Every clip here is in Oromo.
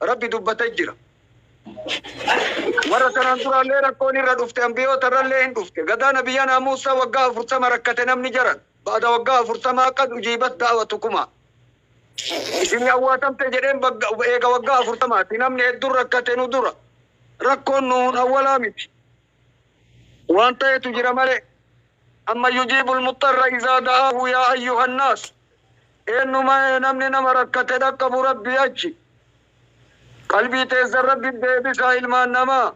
Rabbi dubbate jira. Warra tanaan duraallee rakkoon irra dhufte anbiyoota irrallee hin dhufte. Gadaa nabiyyanaa Muussa waggaa afurtama rakkate namni jaran. Ba'da waggaa afurtamaa qad ujiibat da'watukumaa. Isinii awwaatamte jedheen bagga eega waggaa afurtamaati namni heddun rakkate nu dura. Rakkoon nuhun awwalaa miti. Waan tahetu jira malee. Amman yujiibul muxxarra izaa da'aahu yaa ayyuhan naas. Eennu maee namni nama rakkate dhaqqabu Rabbii achi. Qalbii teessan Rabbiif deebisaa ilmaan namaa.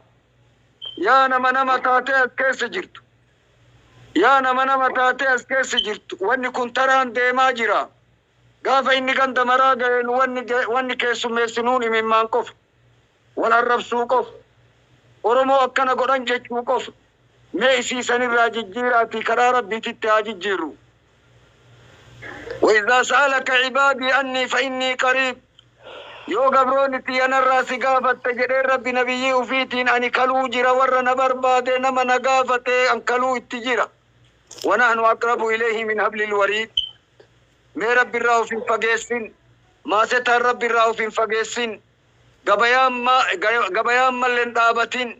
Yaa nama nama taatee as keessa jirtu. Yaa nama nama taatee as keessa jirtu wanni kun taraan deemaa jira. Gaafa inni ganda maraa gahe nu wanni wanni keessummeessinuun imimmaan qofa. Wal arrabsuu qofa. Oromoo akkana godhan jechuu qofa. Mee isii sanirraa jijjiiraatii karaa Rabbiititti haa jijjiirru. Waizaa sa'alaka ibaadii annii fa'innii qariib Yoo gabroonni tiyya narraa si gaafatte jedheen Rabbi Nabiyyii ufiitiin ani kaluu jira warra na barbaade nama na gaafate an kaluu itti jira. Wanahnu aqrabu ileyhi min hablil wariid Mee Rabbirraa of hin fageessin. Maasetaan Rabbirraa of hin fageessin. Gabayaan ma gabayaan malle hin dhaabatin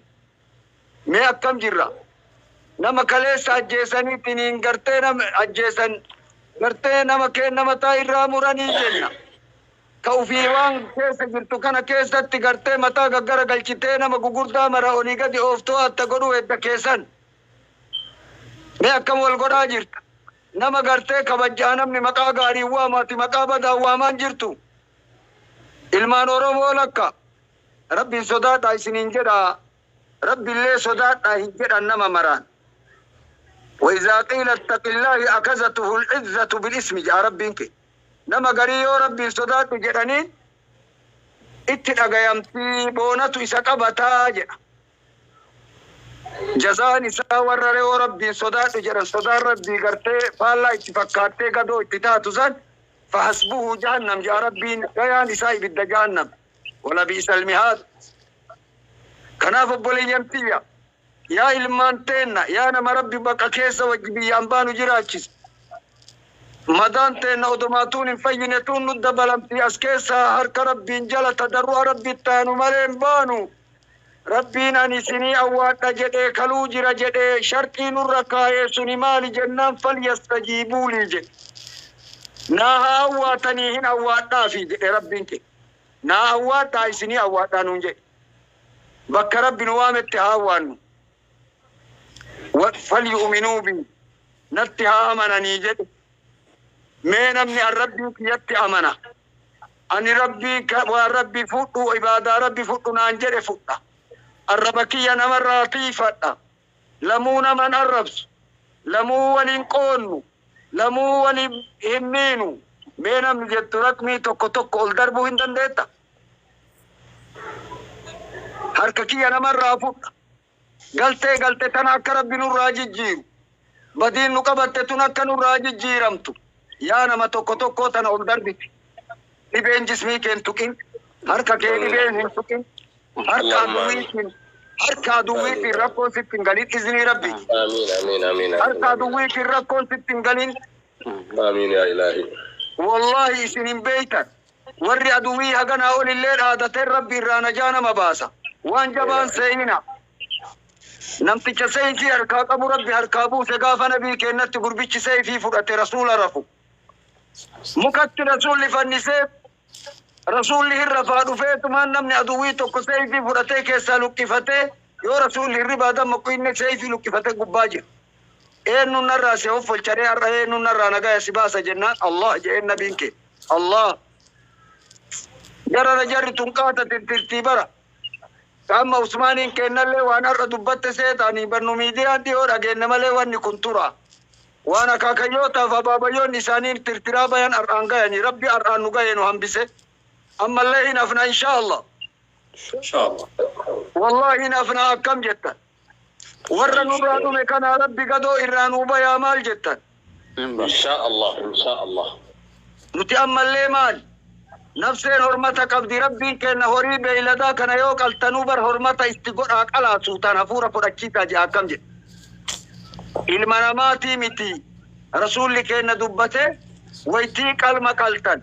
mee akkam jirra nama kaleessa ajjeessanii tiniin gartee nama ajjeessan gartee nama keenna mataa irraa muranii jenna ta ufii waan keessa jirtu kana keessatti gartee mataa gaggara galchitee nama gugurdaa mara olii gadi ooftoo atta godhuu hedda keessan mee akkam wal godhaa jirta nama gartee kabajjaa namni maqaa gaariin waama ati maqaa badaan waamaan jirtu Ilmaan Oromoo lakka! Rabbiin sodaadhaa isiniin jedha, Rabbillee sodaadhaa hin jedhan nama maraan. Waizaa qiila ittaqillaahi akazatuhul izzatu bil ismi jedha Rabbiin kee. Nama garii yoo Rabbiin sodaadhu jedhaniin itti dhagayamti, boonatu isa qabata jedha. Jazaan isaa warra re'oo Rabbiin sodaadhu jedhan sodaan Rabbii gartee faallaa itti fakkaattee gadoo itti taatu san fahasbuhu jahannam ja'a Rabbiin gayaan isaa ibidda jahannam walabi'isal mihaad Kanaaf obboleeyyan tiyya yaa ilmaan teenna yaa nama Rabbi baqa keessa wajji biyyaan baanu jiraachise madaan teenna odomaa tuun hin fayyine tuun nu dabalamtii as keessaa harka Rabbiin jala tadarru'a Rabbitti taanu malee hin baanu Rabbiin ani isinii awwaadha jedhee kaluu jira jedhee sharxii nurra kaayee suni maali jennaan falyastajiibuu lii jedhe naa haa awwaatanii hin awwaadhaafii jedhe Rabbiin keenya naa awwaadhaa isinii awwaadhaa nuun jedhe bakka Rabbi nu waametti haa awwaannu wa falyu'uminuu bii natti haa amananii jedhe mee namni an Rabbii kiyyatti amana Ani Rabbi ka waan Rabbi fudhu, ibaadaa Rabbi fudhu naan jedhe fudha. Arraba kiyya nama irraa tiiyfadha. Lamuu nama hin arrabsu. Lamuu wal hin qoonnu. Lamuu wal hin miinu. Mee namni jettu raqmii tokko tokko ol darbuu hin dandeetta? Harka kiyya nama irraa fudha. Galtee galte tana akka Rabbi nurraa jijjiiru, badiin nu qabatte tun akka nurraa jijjiiramtu, yaa nama tokko tokkoo tana ol darbiti. Dhibeen jismii kee hin tuqin, harka kee dhibeen hin tuqin, harkaa duwwiitiin, harkaa duwwiitiin rakkoon sitti hin galin iznii Rabbiitiin. Harkaa duwwiitiin rakkoon sitti hin galin. Wallaahi isin hin beeytan. Warri aduwii haganaa olillee dhaadateen Rabbi irraa najaa nama baasa. Waan jabaa hin seeyina. Namticha seeyfii harkaa qabu Rabbi harkaa buuse gaafa nabii keennatti gurbichi seeyfii fudhate Rasuula rafu. Mukatti Rasuulli fannisee Rasuulli hin rafaa dhufeetumaan namni aduwii tokko seeyfii fudhatee keessaa luqqifatee yoo Rasuulli hirribaa dammaqu inni seeyfii luqqifate gubbaa jira. Eennuun narraa si hoffolcharee har'a eennuun narraa nagaya si baasa jennaan Allah je'een nabiin keenya. Allah garana jarri tun qaatatin tirtii bara qaamma Usmaaniin keennallee waan har'a dubbatte seetaanii bannu miidiyaan dhiyoo dhageenne malee wanni kun tura waan akaakayyootaaf abaabayyoonni isaanii tirtiraa bayan har'aan gayanii rabbi har'aan nu gayee nu hambise ammallee hin hafna inshaa Allah Inshallah. wallaahi hin hafna akkam jettan Warra nurraa dhume kanaa rabbi gadoo irraa nuu bayaa maal jettan. Inshaa Allah inshaa Allah. Nuti ammallee maali? Nafseen hormata qabdi Rabbiin keenna horii beeyladaa kana yoo qaltanuu bar hormata itti godhaa qalaa suutaan hafuura fudhachiisaa je'aa akkam jedhe. Ilma namaatii mitii. Rasuulli keenna dubbate waytii qalma qaltan.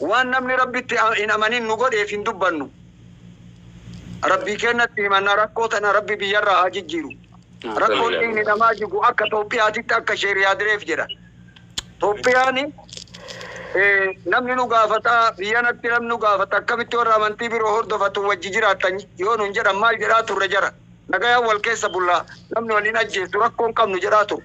Waan namni Rabbitti hin amanin nu godheef hin dubbannu. Rabbii keennatti himanna rakkoo tana Rabbi biyyarraa haa jijjiiru. Rakkoon dhiigni namaa jigu akka Toophiyaatitti akka Sheeh Riyaadireef jedha. Toophiyaani namni nu gaafata biyyanatti namni nu gaafata akkamitti warra amantii biroo hordofatu wajji jiraattan yoo nun jedhan maal jedhaa turre jara. Nagayaan wal keessa bulla namni wal hin ajjeesu rakkoo hin qabnu jedhaa turre.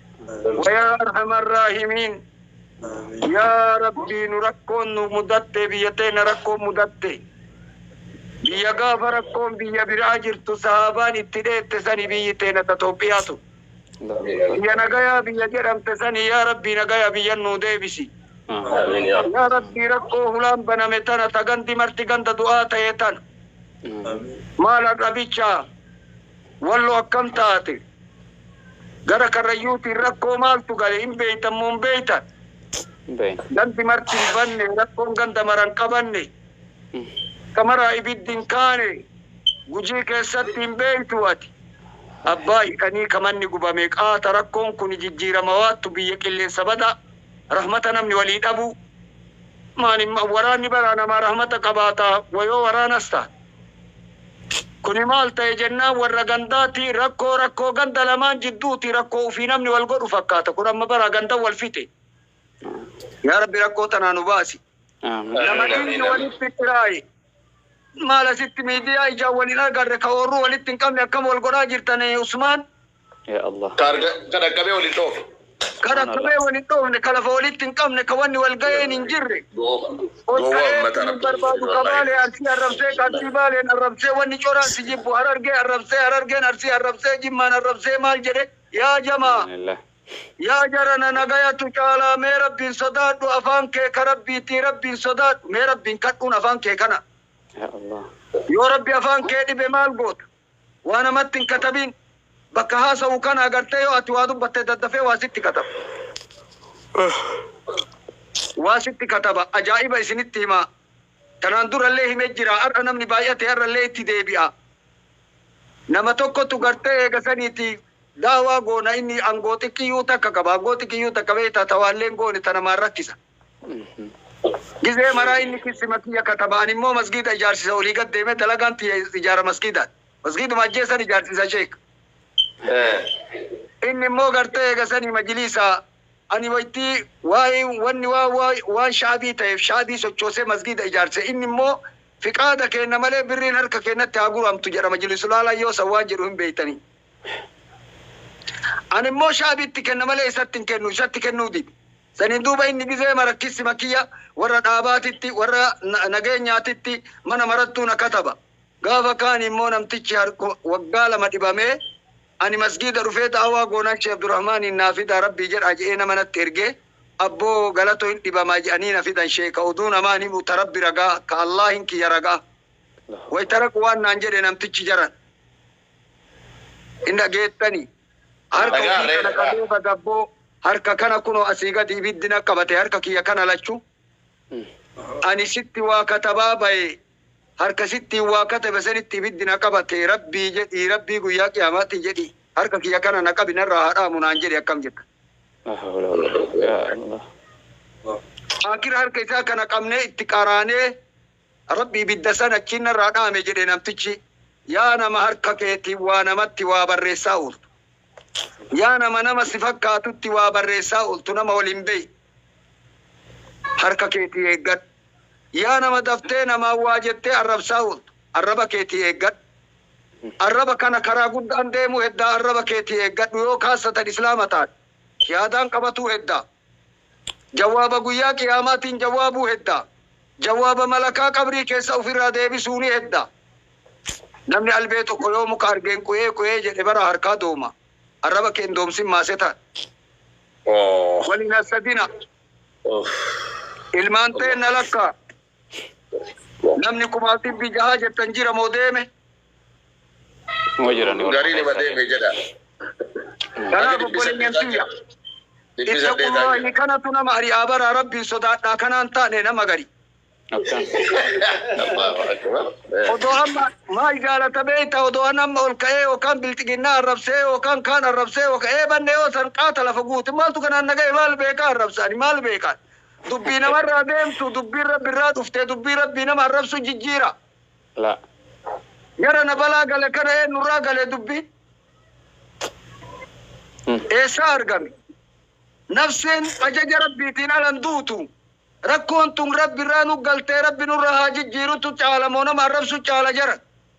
Wayaa arhamar raahimiin yaa rabbii nu rakkoon nu mudattee biyya teena rakkoon mudatte biyya gaafa rakkoon biyya biraa jirtu sahaabaan itti dheette sani biyyi teena ta xoophiyaa tun biyya nagayaa biyya jedhamte sani yaa rabbii nagaya biyyan nuu deebisi yaa rabbii rakkoo hulaan baname tana ta gandi marti ganda du'aa taye tana maal har'a bichaa Wallo akkam taate? Gara Karrayyuutiin rakkoo maaltu gale? Hin beektan moo hin beektan? Hin beeknu. Gandi marti hin badne, rakkoon ganda mara hin qabanne. Bakka maraa ibiddi hin kaane, Gujii keessatti hin beektuu ati? Abbaa hidhanii ka manni gubame qaata, rakkoon kuni jijjiirama waattu, biyya qilleensa badaa, rahmata namni walii dhabuu. Maani waraanni baraa namaa rahmata qabaataa? Wayoo waraanas taate. Kuni maal ta'e jennaan warra gandaati. Rakkoo rakkoo ganda lamaan jidduuti. Rakkoo ufii namni wal godhu fakkaata. Kun amma baraa gandan wal fixe. Yaa Rabbi rakkoo tanaa nu baasi. Nama dhiigni walitti xiraaye. Maal asitti miidiyaa ijaan wal hin agarre ka oorruu walitti hin qabne akkam wal godhaa jirtan Usmaan? Yaa Allah. Ka arga, ka dhaqqabee wal hin dhoofne. Ka dhaqqabee wal hin dhoofne, ka lafa walitti hin qabne, ka wanni wal gayeen hin jirre. Ol ka'ee si hin barbaadu, ka Baalee Arsii arrabsee, ka Arsii Baaleen arrabsee, wanni coraan si jibbu, Harargee arrabsee, Harargeen Arsii arrabsee, Jimmaan arrabsee maal jedhe? Yaa jamaa! Yaa jarana nagayatu caalaa mee Rabbiin sodaadhu, afaan kee ka Rabbiitii Rabbiin sodaadhu, mee Rabbiin kadhuun afaan kee kana. Yaa Allah. Yoo Rabbi afaan kee dhibe maal goota? Waa namatti hin katabiin. Bakka haasa'u kana agartee yoo ati waa dubbatte daddafee waa sitti kataba. Waa sitti kataba. Ajaa'iba isinitti himaa. Tanaan durallee hime jira. Har'a namni baay'ate har'allee itti deebi'a. Nama tokkotu gartee eega saniiti da'waa goona inni angoo xiqqiyyuu takka qaba. Angoo xiqqiyyuu takka beektaa ta waallee hin goone ta namaan rakkisa. Gizee maraa inni kissima kiyya kataba'an immoo masgiida ijaarsisa olii gad deeme dalagaan tiyya ijaara masgiidaati. Masgiiduma ajjeessan ijaarsisa sheek. Inni immoo gartee eega sanii majiliisa ani waytii waa'een wanni waa waa waan shaabii ta'eef shaabii sochoosee masgiida ijaarse inni immoo fiqaada keenna malee birriin harka keennatti haa guramtu jedha majilisulaalaa yoo san waan jedhu hin beeytanii. Ani immoo Shaabiitti kenna malee isatti hin kennu, isatti kennuu dide. Saniin duuba inni gizee mara kissima kiyya worra dhaabaatitti, worra nageenyaatitti mana marattuu na kataba. Gaafa kaani immoo namtichi hark waggaa lama dhibamee ani masgiida dhufee da'awaa goonaan Sheikh Abdurahmaaniin naa fidaa Rabbii jedhaa je'ee nama natti ergee abboo Galato hin dhibamaa je'anii na fidan sheekha oduu namaan himu ta Rabbi ragaa, ka Allaahiin kiyya ragaa. Wayta dhaqu waan naan jedhe namtichi jaran. Hin dhageettanii? Harka Dhagaa ufii ree, kana dhagaa. qabee bagabboo, harka kana kunoo asii gadi ibiddi na qabate, harka kiyya kana lachuu. Ani sitti waa katabaa baye, harka sittiin waa katabe sanitti ibiddi na qabate, Rabbii jedhii, Rabbii guyyaa qiyaamaatii jedhii, harka kiyya kana na qabi narraa haa dhaamu naan jedhi akkam jettan? Laa hawla wa laa- yaa Allah. Aakira harka isaa kana qabnee itti qaraanee Rabbi ibidda san achiin narraa dhaame jedhe namtichi. Yaa nama harka keetiin waa namatti waa barreessaa ooltu. Yaa nama nama si fakkaatutti waa barreessaa ooltu nama wal hin beeyne. Harka keetii eeggadhu. Yaa nama daftee namaan waa jettee arrabsaa ooltu. Arraba keetii eeggadhu. Arraba kana karaa guddaan deemuu heddaa arraba keetii eeggadhu yoo kaassatan islaama taate. Yaadaan qabatuu heddaa. Jawaaba Guyyaa Qiyaamaatiin jawaabuu heddaa. Jawaaba malakaa qabrii keessaa uf irraa deebisuu ni hedda. Namni albee tokko yoo muka argeen quee quee jedhe baraa harkaa dooma. Arraba kee hin doomsin maaseta. Wal hin hassadina. Ilmaan teenna lakkaa. Namni kumaaf dhibbi jahaa jettan jira moo deeme? Numa jira ni Garii nima deeme jedha. Kanaaf obboleeyyan tiyya. Ittaqullaahi kanatu nama ari'aa baraa Rabbiin sodaadhaa kanaan taane nama gari. Odoo amma maal jaalata beeyta odoo an amma ol ka'ee yookaan bilxiginnaa arrabsee yookaan kaan arrabsee yookaan eebanne yoo san qaata lafa guute maaltu kanaan na gahe maal beekaa arrabsa ani maal beekaan Dubbii namarraa deemtu, dubbiin Rabbirraa dhufte, dubbii Rabbii nama arrabsu jijjiira. Laa. Gara na balaa gale kana eennurraa gale dubbi? Eessaa argame? Nafseen ajaja Rabbiitiin ala hin duutu. Rakkoon tun Rabbirraa nu galtee Rabbi nurraa haa jijjiirutu caala moo nama arrabsu caala jara?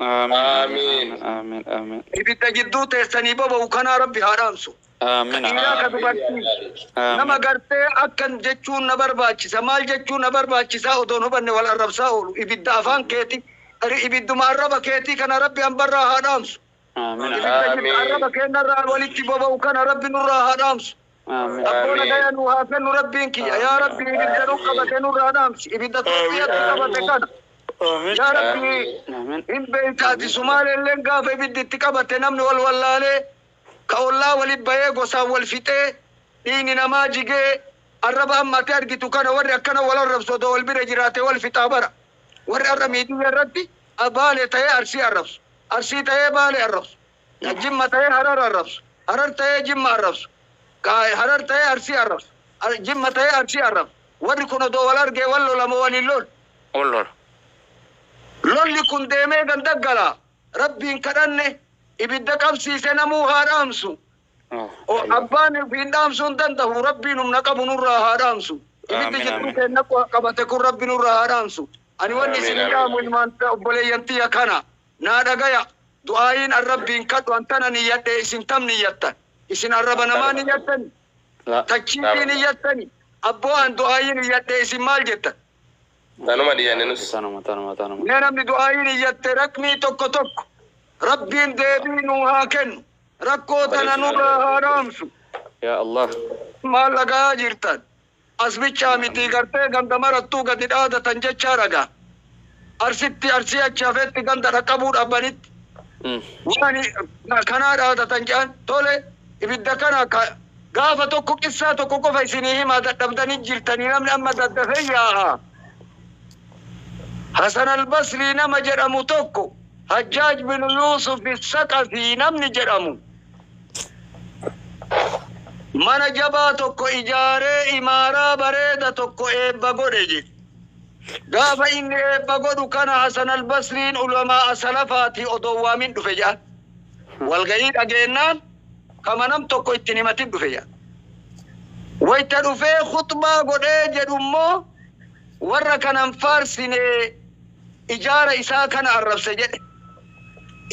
Aamiin Aamiin. Aamiin Aamiin Aamiin. Ibidda jidduu teessanii boba'u kanaa Rabbi haa dhaamsu. Ka Aamiin dhiiraa ka Aamiin dubartii. Nama Aamiin. gartee akkan jechuun na barbaachisa, maal jechuun na barbaachisaa odoon hubanne wal arrabsaa oolu. Ibidda afaan keeti, ri- ibidduma arraba keetii kana Rabbi hambarraa haa dhaamsu. Aamiin Aamiin. Ibidda jiddu Aamiin. arraba keennarraa walitti boba'u kana Rabbi nurraa haa dhaamsu. Abboo nagaya nuu haa kennu rabbiin kiyya yaa rabbii ibidda nu qabate nurraa dhaamsi ibidda turkiyatti qabate kana yaa rabbii hin beeyta ati sumaaleelleen gaafa ibiddi itti qabatte namni wal wallaalee ka ollaa wali bayee gosaan wal fixee dhiigni namaa jigee arraba amma ati argitu kana warri akkana wal arrabsu odoo wal bira jiraate wal fixaa bara warri arra miidiyya irratti baale tayee arsii arrabsu arsii tayee baale arrabsu Ka Jimma ta'ee Harar arrabsu, Harar ta'ee Jimma arrabsu, ka Harar ta'ee Arsii arrabsu, Ar, Jimma ta'ee Arsii arrabsu. Warri kun odoo wal argee wal lola moo wal hin lolu? Wal lola. Lolli kun deemee ganda gala. Rabbiin kadhanne, ibidda qabsiise namuu haa dhaamsu. O, abbaan ufiin dhaamsuu hin dandahu, Rabbiin humna qabu nurraa haa dhaamsu. Ibiddi Aamiin, jidduu aamiin. keenna qabate kun Rabbi nurraa haa dhaamsu. Ani wanni Aamiin, isiniin aamiin. dhaamu ilmaan, obboleeyyan tiyya kana. Naa dhagaya! Du'aayiin an Rabbiin kadhu an tana niyyadhee isin tam niyyattan? Isin arraba namaa niyyattanii? Tachiitii niyyattanii? Abboo an du'aayii niyyadhee isin maal jettan? Tanuma niyyanne nus. Tanuma tanuma tanuma. Mee namni du'aayii niyyatte rakmii tokko tokko Rabbiin deebii nuu haa kennu, rakkoo tana nurraa haa dhaamsu. Yaa Allah. Maal dhaga'aa jirtan? As bichaa mitii gartee ganda marattuu gadi dhaadatan jechaa raga Arsitti Arsii achi hafetti ganda dhaqqabuu dhabbanitti waan kanaa dhaadatan jedhan tole ibidda kana ka gaafa tokko qissaa tokko qofa isinii himaa dadhabdanii jirtanii namni amma daddafee yaa'a Hasan Albasrii nama jedhamu tokko Hajjaaj binu Yuusuf Saqafii namni jedhamu Mana jabaa tokko ijaaree imaaraa bareeda tokko eebba godhe jedhe. Gaafa inni eebba godhu kana Hasan al-Basriin ulamaa'a salafaatii odoo hin waamin dhufe jedhan. Walgahii dhageennaan kama nam tokko itti hin himatin dhufe jedhan. Wayta dhufee khuxbaa godhee jedhu immoo warra kana hin faarsinee ijaara isaa kana arrabse jedhe.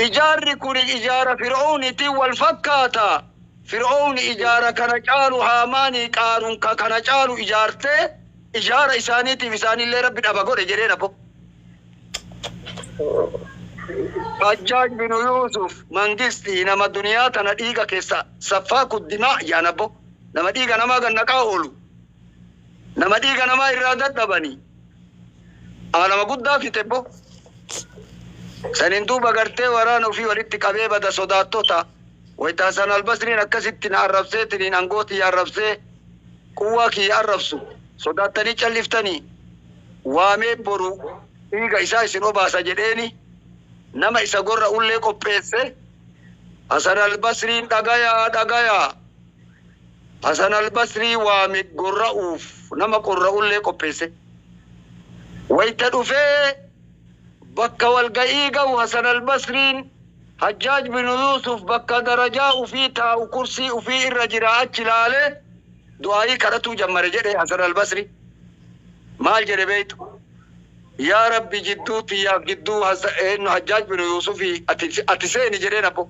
Ijaarri kun ijaara Fir'awniitiin wal fakkaata. Fir'awni ijaara kana caalu Haamaanii qaaruun ka kana caalu ijaartee ijaara isaaniitiif isaanillee Rabbi dhaba godhe jedhee nabbo. Hajjaaj binu Yuusuf Mangistii nama duniyaa tana dhiiga keessa saffaaku dimaa jaan abbo. Nama dhiiga namaa gad naqaa oolu. Nama dhiiga namaa irraa dadhabanii Aa nama guddaa fixe bo. Saniin duuba gartee waraana ufii walitti qabee bada sodaattota. Wayta Hasan Albasriin akkasitti na arrabseetiniin angoo tiyya arrabsee quwwaa kiyya arrabsu sodaattanii calliftanii? Waamee boru dhiiga isaa isin obaasa jedheeni nama isa gorra ullee qopheesse. Hasan Albasriin dhagayaa dhagayaa! Hasan al-Basrii waame gorra'uuf nama qorra'ullee qopheesse. Wayta dhufee bakka walga'ii gahu Hasan al-Basriin Hajjaaj binu Yuusuf bakka darajaa ufii taa'u kursii ufii irra jira achi laalee du'aa'ii kadhatuu jammare jedhe Hasan al-Basrii maal jedhe beeytu Yaa Rabbi jidduu tiyyaaf jidduu Hajjaaj binu Yuusufii ati seeni jedheen abboo.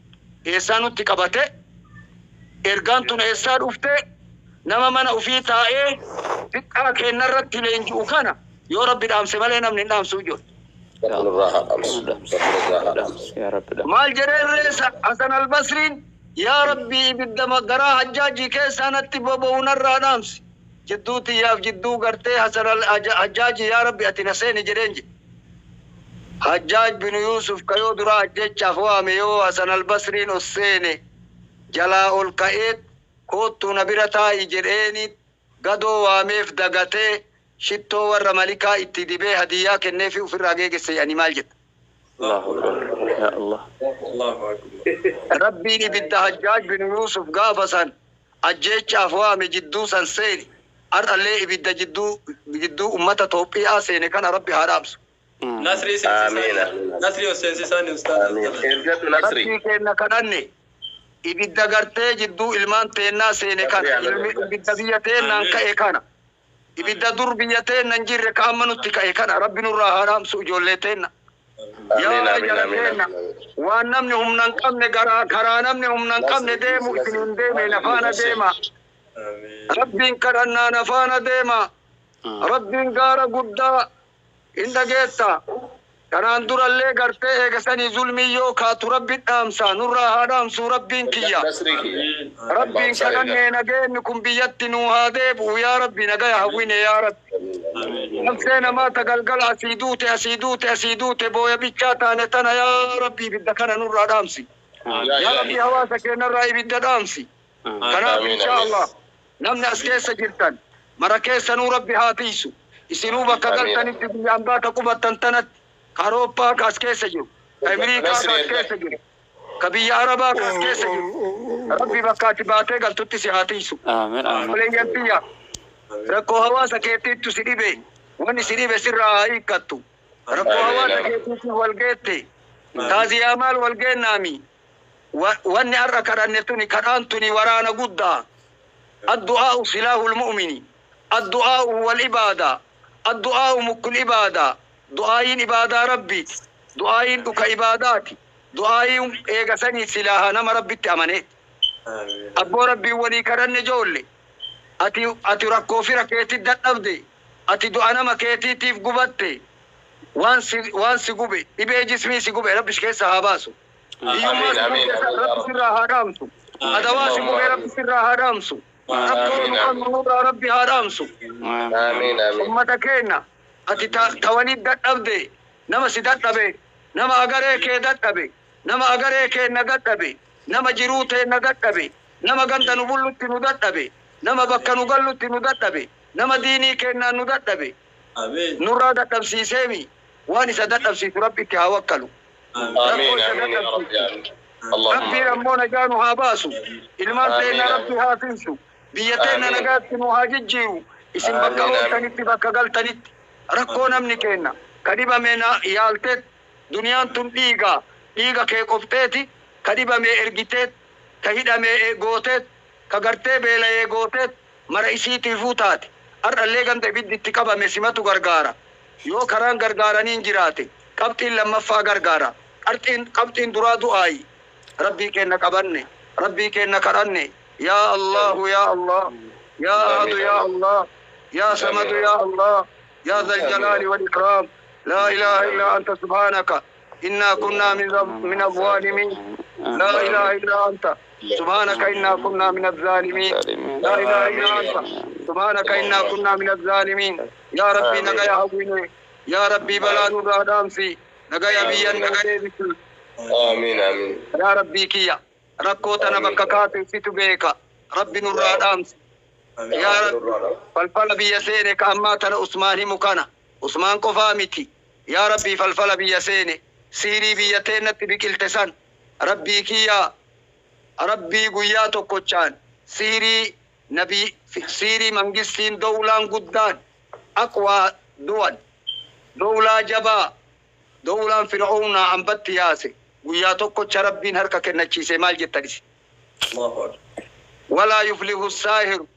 Eessaa nutti qabate? Ergaan tun eessaa dhufte? Nama mana ufii taa'ee diqqaa keenna irratti leenji'u kana yoo Rabbi dhaamse malee namni hin dhaamsu ijoolle. Rabbi nurraa haa dhaamsu. Rabbi nurraa haa dhaamsu. Maal jedheen ree Hasan Al-Basriin? Yaa Rabbii ibidda garaa Hajjaajii keessaa natti boba'u narraa dhaamsi. Jidduu tiyyaaf jidduu gartee Hasan Al-Hajjaajii yaa Rabbi ati na seeni jedheen jedhe. Hajjaaj binu Yuusuf ka yoo duraa ajjeechaaf waame yoo Hasan al-Basriin ol seene jalaa ol ka'eet koottuu na bira taa'i jedheeniit gadoo waameef dagatee shittoo warra malikaa itti dibee hadiyyaa kenneefii ufirraa geegesse je'anii maal jetta? Allaahu Akbar Yaa Allaah. Rabbiin ibidda Hajjaaj binu Yuusuf gaafa san Ajjeechaaf waame jidduu san seene, har'allee ibidda jidduu jidduu ummata Toophii'aa seene kana Rabbi haa dhaamsu. Nasrii seensisaanii Nasrii of seensisaanii ustaaza of Aamiin dabarsa. ergatu nasri. Rabbii keenna kadhanne, ibidda gartee jidduu ilmaan teennaa seene kana, Nasrii Aamiin. ibidda biyya teennaan Aamiin. ka'e kana, Ibidda dur biyya teenna hin jirre ka amma nutti ka'e kana Rabbi nurraa haa dhaamsu ijoollee teenna. Yaa Ameen, ameen, jara ameen, teenna, ameen, ameen. waan namni humna hin qabne garaa, karaa namni humna hin qabne Nasri, deemu Nasri, isiniin deeme Nasri, na faana Nasri. deema. Rabbiin kadhannaa na faana deema. Rabbiin gaara guddaa Hin dhageetta. Kanaan durallee gartee eega sanii zulmiin yoo kaatu Rabbi dhaamsa nurraa haa dhaamsuu Rabbiin kiyya. Rabbiin kadhannee nageenni kun biyyatti nuu haa deebi'u yaa Rabbi nagaya hawwine yaa Rabbi. Nafsee namaa ta galgala asii duute asii duute asii duute booya bichaa taane tana yaa Rabbi ibidda kana nurraa dhaamsi. Yaa Rabbi hawaasa keennarraa ibidda dhaamsi. Kanaaf inshaa Allah Namni as keessa jirtan mara keessanuu Rabbi haa tiysu. Isinuu bakka galtanitti biyya ambaa ta qubattan tanatti, ka Arooppaa ka as keessa jiru, ka Emiriikaa ka as keessa jiru, ka biyya Arabaa ka as keessa jiru, Rabbi bakka ati baatee galtutti si haa tiysu. Obboleeyyan tiyya! Rakkoo hawaasa keetiittu si dhibe, wanni si dhibe sirraa haa hiikkattu. Rakkoo hawaasa keetiitiif wal geette? Taaziyaa maal wal geennaamii? Wanni har'a kadhanne tuni, kadhaan tuni waraana guddaa. Addu'aa'u silaahul mu'mini. Addu'aa'u huwal ibaadaa. Addu'aa'u mukkul ibaadaa. Du'aayiin ibaadaa Rabbiiti. Du'aayiin dhuka ibaadaati. Du'aayiin eega sanii silaaha nama Rabbitti amaneeti. Abboo Rabbiin walii kadhanne joolle. Ati, ati rakkoo fira keetii dadhabde. Ati du'a nama keetiitiif gubatte. Waan si, waan si gube, dhibee jismii si gube Rabbi si keessaa haa baasu. Hiyyummaa si Amiin, mudate amiin, yaa Rabbi Rabbi. sirraa haa dhaamsu. Adawaa si mure Rabbi sirraa haa dhaamsu. Rakkoo Amiin, nu amiin. qabnu nurraa Rabbi haa dhaamsu. Amiin amiin. Ummata keenna ati ta, ta waliit dadhabde nama si dadhabe nama agaree kee dadhabe nama agaree keenna dadhabe nama jiruu teenna dadhabe nama ganda nu bullutti nu dadhabe nama bakka nu gallutti nu dadhabe nama diinii keennaan nu dadhabe nurraa dadhabsiiseemi waan isa dadhabsiisu rabbitti haa wakkalu rakkoo isa dadhabsiiftu rabbiin ammoo najaa nu haa baasu ilmaan teenna rabbi haa tiysu biyya teenna nagaatti nuu haa jijjiiru isin bakka ooltanitti bakka galtanitti rakkoo namni keenna ka dhibame na yaalteet duniyaan tun dhiigaa dhiiga kee qofteeti ka dhibame ergiteet ka hidhame gooteet ka gartee beelayee gooteet mara isiitiifuu taate. Har'allee ganda ibiddi itti qabame simatu gargaara. Yoo karaan gargaaranii hin jiraate qabxiin lammaffaa gargaara. Qarxiin, qabxiin duraa du'aayi. Rabbii keenna qabanne, Rabbii keenna kadhanne, Yaa Allaahu yaa Allaah, Yaa Ahadu yaa Allaah, Yaa Samadu yaa Allaah, Yaa Zal Jalaali Wal Ikraam, Laa Ilaaha Illaa Anta Subhaanaka. Innaa kunnaa mina zaalimiin Laa ilaaha illaa anta Subhaanaka innaa kunnaa mina zaalimiin Laa ilaaha illaa anta Subhaanaka innaa kunnaa mina zaalimiin Yaa Rabbii nagaya hawwinee Yaa Rabbii balaa nurraa dhaamsii Nagaya biyyan nuu deebisii Yaa Rabbii kiyya Rakkoo tana bakka kaate situ beeka Rabbi nurraa dhaamsi Yaa Rabbi Falfala biyya seene ka ammaa tana Usmaan himu kana Usmaan qofaa miti yaa rabbii falfala biyya seene siirii biyya teennatti biqilte san rabbii kiyyaa rabbii guyyaa tokkochaan siirii nabi fi siirii mangistiin dowlaan guddaan aqwaa duwal dowlaa jabaa dowlaan fir'oownaa ambatti yaase guyyaa tokkocha rabbiin harka kennachiise maal jettan isin walaa yuflihu saahiru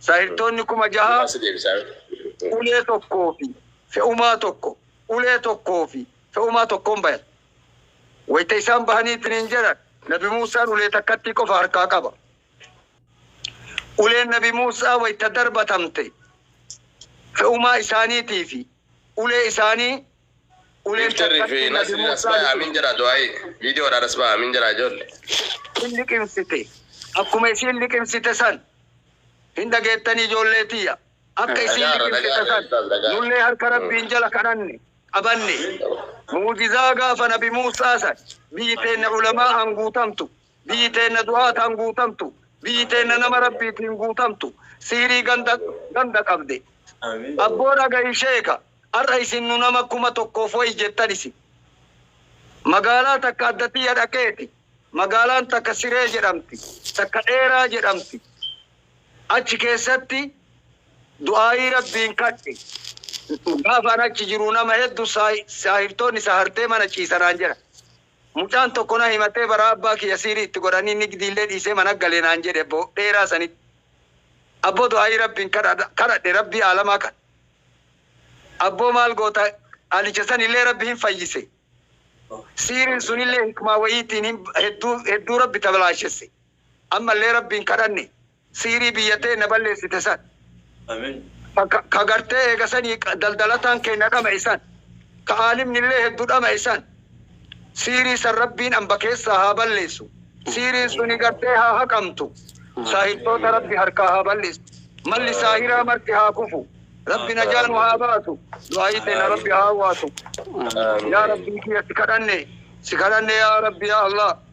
Saahirtoonni kuma jaha, ulee tokkoo fi fe'umaa tokko, ulee tokkoo fi fe'umaa tokkoon bayan. Wayta isaan bahanii isiniin jedhan, Nabi Muusaan ulee takkattii qofa harkaa qaba. Uleen Nabi Muusaa wayta darbatamte, fe'umaa isaaniitii fi ulee isaanii Uleen Iftar fi takkatti Nasri nadimuu Rasbaa saani Amin jedha du'aayi. Video dha Rasbaa Amin jedha ijoolli. hin liqimsite. Akkuma isiin liqimsite san. Hin dhageettanii ijoollee tiyya. Akka isiin Dhagaarra liqimsite dhagaarra san. Ustaaz dhagaarra. Nullee harka Rabbiin jala kadhanne. Qabanne. Mu'jizaa gaafa nabi Muusaa san. Biyyi teenna ulamaa'aan guutamtu. Biyyi teenna du'aataan guutamtu, biyyi teenna nama Rabbiitiin guutamtu, sihrii ganda ganda qabde. Abboo dhagayi sheeka, har'a isin nu nama kuma tokkoof wayi jettan isin. Magaalaa takka adda tiyya dhaqeeti, magaalaan takka Siree jedhamti, takka Dheeraa jedhamti. Achi keessatti du'aayii Rabbiin kadhe. Gaafa an achi jiru nama heddu saahirtoonni sahartee mana ciisa naan jedhan. Mucaan tokko na himatee baraa abbaa kiyya siirii itti godhanii nigdiillee dhiisee mana gale naan jedhe abbo dheeraa sanitti. Abbo du'aa'ii Rabbiin kadhadhe Rabbii aalamaa kan. Abboo maal goota qalicha sanillee Rabbi hin fayyise. Siiriin sunillee hikmaa wayiitiin hedduu hedduu Rabbi tablaashesse. Ammallee Rabbiin kadhanne Siirii biyya teenna balleessite san, ka gartee eega sanii daldalataan keenna dhama'e san, ka aalimnillee heddu dhama'e san, siirii san Rabbiin amba keessaa haa balleessu, siiriin suni gartee haa haqamtu, saahirtoota Rabbi harkaa haa balleessu, malli saahiraa marti haa kufu, Rabbi najaa nu haa baasu, du'aa'ii teenna Rabbi haa hawwaatu. Yaa Rabbii kiyya si kadhanne, si kadhanne yaa Rabbi yaa Allaah.